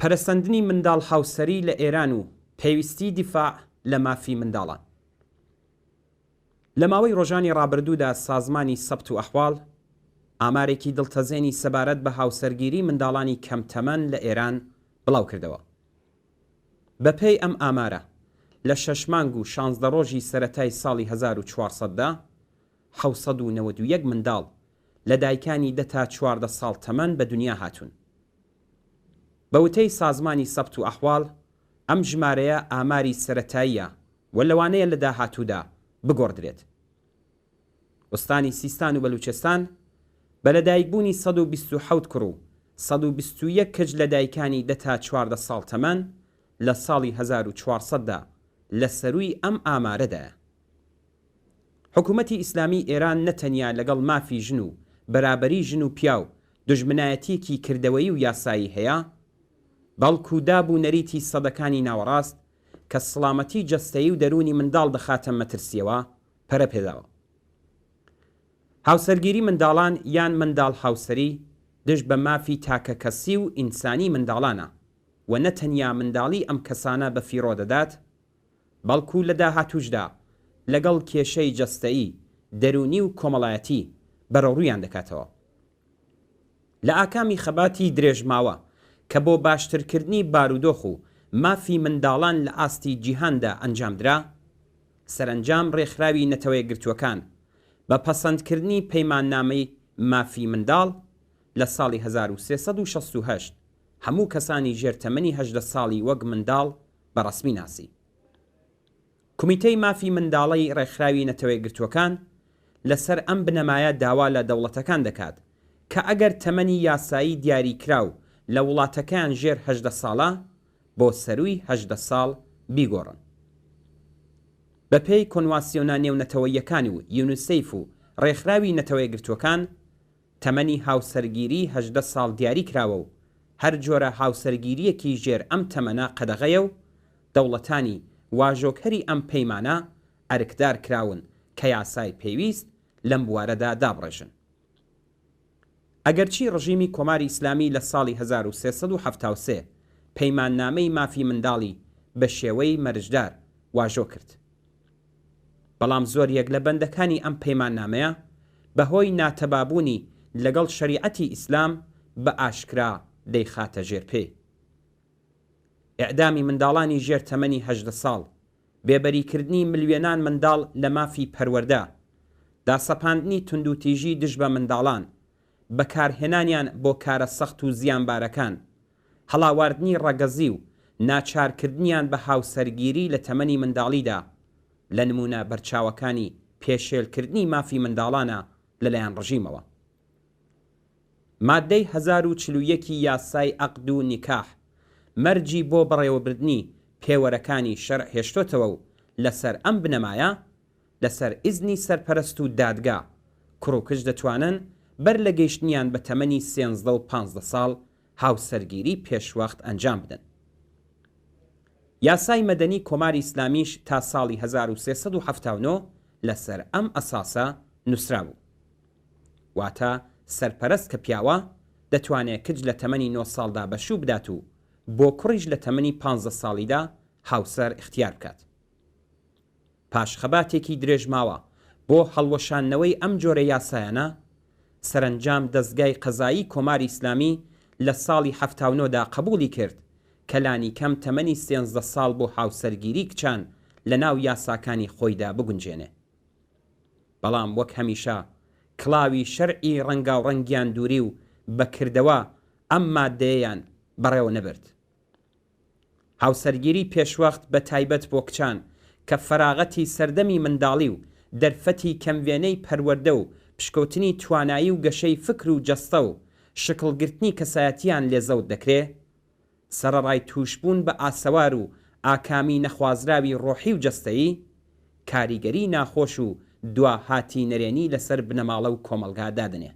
پەرەسەندنی منداڵ هاوسەری لە ئێران و پێویستی دیفاع لە مافی منداڵان. لە ماوەی ڕۆژانی ڕابردوودا سازمانی سەبت و ئەحواڵ ئامارێکی دڵتەزێنی سەبارەت بە هاوسەرگیری منداڵانی کەم تەمەن لە ئێران بڵاو کردەوە. بە پێی ئەم ئامارە لە شەش مانگ و شانزدە ڕۆژی سەرەتای ساڵی هەزار و چوار سەد دا، حەوت سەد و نەوەد و یەک منداڵ لە دایکانی دە تا چواردە ساڵ تەمەن بە دنیا هاتوون. بە وتەی سازمانی سەبت و ئەحواڵ، ئەم ژمارەیە ئاماری سەرەتاییە و لەوانەیە لە داهاتوودا بگۆڕدرێت. ئوستانی سیستان و بەلووچستان بە لەدایکبوونی سەد و بیست و حەوت کوڕ و سەد و بیست و یەک کچ لە دایکانی دە تا چواردە ساڵ تەمەن لە ساڵی هەزار و چوار سەد دا لە سەرووی ئەم ئامارەدایە. حکوومەتی ئیسلامیی ئێران نە تەنیا لەگەڵ مافی ژن و بەرابەریی ژن و پیاو دوژمنایەتییەکی کردەوەیی و یاسایی هەیە، بەڵکو داب و نەریتی سەدەکانی ناوەڕاست کە سڵامەتی جەستەیی و دەروونی منداڵ دەخاتە مەترسییەوە، پەرە پێداوە. هاوسەرگیری منداڵان یان منداڵ هاوسەری دژ بە مافی تاکەکەسی و ئینسانی منداڵانە و نە تەنیا منداڵی ئەم کەسانە بە فیڕۆ دەدات، بەڵکو لە داهاتووشدا لەگەڵ کێشەی جەستەیی، دەروونی و کۆمەڵایەتی بەرەوڕوویان دەکاتەوە. لە ئاکامی خەباتی درێژماوە کە بۆ باشترکردنی بارودۆخ و مافی منداڵان لە ئاستی جیهاندا ئەنجامدرا، سەرەنجام ڕێکخراوی نەتەوەیەکگرتووەکان بە پەسەندکردنی پەیماننامەی مافی منداڵ لە ساڵی هەزار و سێ سەد و شەست و هەشت هەموو کەسانی ژێر تەمەنی هەژدە ساڵی وەک منداڵ بە ڕەسمی ناسی. کومیتەی مافی منداڵەی ڕێکخراوی نەتەوەیەکگرتووەکان لەسەر ئەم بنەمایە داوا لە دەوڵەتەکان دەکات کە ئەگەر تەمەنی یاسایی دیاریکراو لە وڵاتەکەیان ژێر هەژدە ساڵە بۆ سەرووی هەژدە ساڵ بیگۆڕن. بەپێی کۆنواسیۆنە نێونەتەوەییەکان و یونیسیف و ڕێکخراوی نەتەوەیەکگرتووەکان، تەمەنی هاوسەرگیری هەژدە ساڵ دیاری کراوە و هەر جۆرە هاوسەرگیرییەکی ژێر ئەم تەمەنە قەدەغەیە و دەوڵەتانی واژۆکەری ئەم پەیمانە ئەرکدار کراون کە یاسای پێویست لەم بوارەدا دابڕێژن. ئەگەرچی ڕژیمی کۆماری ئیسلامی لە ساڵی هەزار و سێ سەد و حەفتا و سێ پەیماننامەی مافی منداڵی بە شێوەی مەرجدار واژۆ کرد، بەڵام زۆر یەک لە بەندەکانی ئەم پەیماننامەیە بە هۆی ناتەبابوونی لەگەڵ شەریعەتی ئیسلام بە ئاشکرا دەیخاتە ژێر پێی. ئێعدامی منداڵانی ژێر تەمەنی هەژدە ساڵ، بێبەری کردنی ملیۆنان منداڵ لە مافی پەروەردە، داسەپاندنی توندوتیژی دژ بە منداڵان، بەکارهێنانیان بۆ کارە سەخت و زیانبارەکان، هەڵاواردنی ڕەگەزی و ناچارکردنیان بە هاوسەرگیری لە تەمەنی منداڵیدا، لە نموونە بەرچاوەکانی پێشێلکردنی مافی منداڵانە لەلایەن ڕژیمەوە. ماددەی هەزار و چل و یەک ی یاسای عەقد و نیکاح مەرجی بۆ بەڕێوەبردنی پێوەرەکانی شەرع هێشتۆتەوە و لەسەر ئەم بنەمایە لەسەر ئیزنی سەرپەرست و دادگا، کوڕ و کچ دەتوانن بەر لە گەیشتنیان بە تەمەنی سێنزدە و پانزدە ساڵ هاوسەرگیری پێشوەخت ئەنجام بدەن. یاسای مەدەنی کۆماری ئیسلامیش تا ساڵی هەزار و سێ سەد و حەفتا و نۆ لەسەر ئەم ئەساسە نووسرابوو. واتە سەرپەرست کە پیاوە، دەتوانێ کچ لە تەمەنی نۆ ساڵدا بەشوو بدات و بۆ کوڕیش لە تەمەنی پانزدە ساڵیدا هاوسەر ئیختیار بکات. پاش خەباتێکی درێژماوە بۆ هەڵوەشاندنەوەی ئەم جۆرە یاسایانە، سەرەنجام دەزگای قەزایی کۆماری ئیسلامی لە ساڵی حەفتا و نۆ دا قەبووڵی کرد کە لانیکەم تەمەنی سێزدە ساڵ بۆ هاوسەرگیری کچان لە ناو یاساکانی خۆیدا بگونجێنێ. بەڵام وەک هەمیشە کڵاوی شەرعی ڕەنگاوڕەنگیان دووری و بە کردەوە ئەم ماددەیەیان بەڕێوە نەبرد. هاوسەرگیری پێشوەخت بە تایبەت بۆ کچان کە فەراغەتی سەردەمی منداڵی و دەرفەتی کەم وێنەی پەروەردە و پشکۆتنی توانایی و گەشەی فکر و جەستە و شکڵ گرتنی کەسایەتیان لێ زەوت دەکرێ سەرەڕای تووشبوون بە ئاسەوار و ئاکامی نەخوازراوی ڕۆحی و جەستەیی کاریگەری ناخۆش و دوا هاتی نەرێنی لەسەر بنەماڵە و کۆمەڵگا دادەنێ.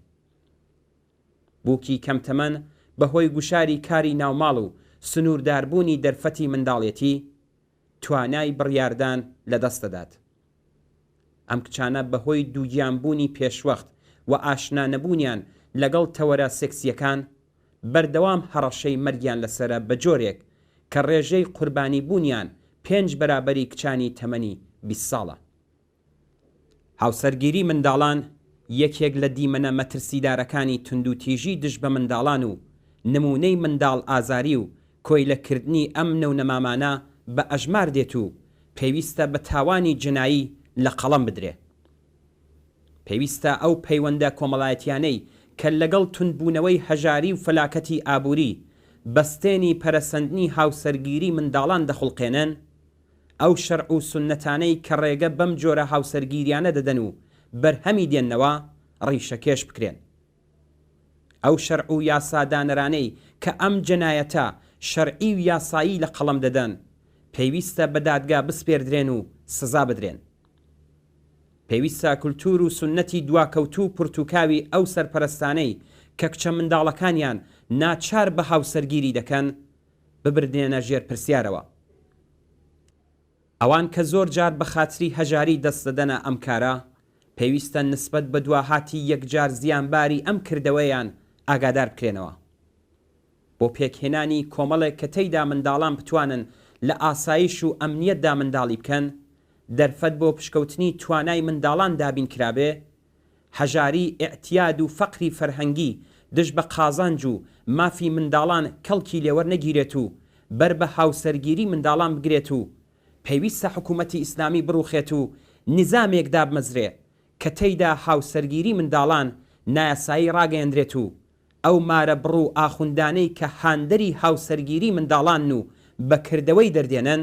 بووکی کەم تەمەن بەهۆی گوشاری کاری ناوماڵ و سنوورداربوونی دەرفەتی منداڵێتی، توانای بڕیاردان لەدەست دەدات. ئەم کچانە بەهۆی دووگیانبوونی پێشوەخت و ئاشنا نەبوونیان لەگەڵ تەوەرە سێکسییەکان، بەردەوام هەڕەشەی مەرگیان لەسەرە بە جۆرێک کە ڕێژەی قوربانیبوونیان پێنج بەرابەری کچانی تەمەنی بیست ساڵە. هاوسەرگیری منداڵان یەکێک لە دیمەنە مەترسیدارەکانی توندوتیژی دژ بە منداڵان و نموونەی منداڵ ئازاری و کۆیلە کردنی ئەم نەونەمامانە بە ئەژمار دێت و پێویستە بە تاوانی جنایی لە قەڵەم بدرێ. پێویستە ئەو پەیوەندە کۆمەڵایەتیانەی کە لەگەڵ توندبوونەوەی هەژاری و فەلاکەتی ئابووری، بەستێنی پەرەسەندنی هاوسەرگیری منداڵان دەخوڵقێنن، ئەو شەرع و سوننەتانەی کە ڕێگە بەم جۆرە هاوسەرگیریانە دەدەن و بەرهەمی دێننەوە ڕیشەکێش بکرێن. ئەو شەرع و یاسادانەرانەی کە ئەم جەنایەتە شەرعی و یاسایی لە قەڵەم دەدەن پێویستە بە دادگا بسپێردرێن و سزا بدرێن. پێویستە کولتوور و سوننەتی دواکەوتوو و پرتوکاوی ئەو سەرپەرەستانەی کە کچە منداڵەکانیان ناچار بە هاوسەرگیری دەکەن ببردێنە ژێر پرسیارەوە ئەوان کە زۆر جار بە خاتری هەژاری دەست دەدەنە ئەم کارە پێویستە نسبەت بە دواهاتی یەکجار زیانباری ئەم کردەوەیان ئاگادار بکرێنەوە بۆ پێکهێنانی کۆمەڵێک کە تێیدا منداڵان بتوانن لە ئاسایش و ئەمنیەتدا منداڵی بکەن دەرفەت بۆ پشکوتنی توانای منداڵان دابین کرابێ هەژاری، ئیعتیاد و فەقری فەرهەنگی دژ بە قازانج و مافی منداڵان کەڵکی لێوەرنەگیرێت و بەر بە هاوسەرگیری منداڵان بگرێت و پێویستە حکوومەتی ئیسلامی بڕووخێت و نیزامێک دابمەزرێ کە تێیدا هاوسەرگیری منداڵان نایاسایی ڕاگەیەندرێت و ئەو مارە بڕ و ئاخوندانەی کە هاندەری هاوسەرگیری منداڵانن و بە کردەوەی دەردێنن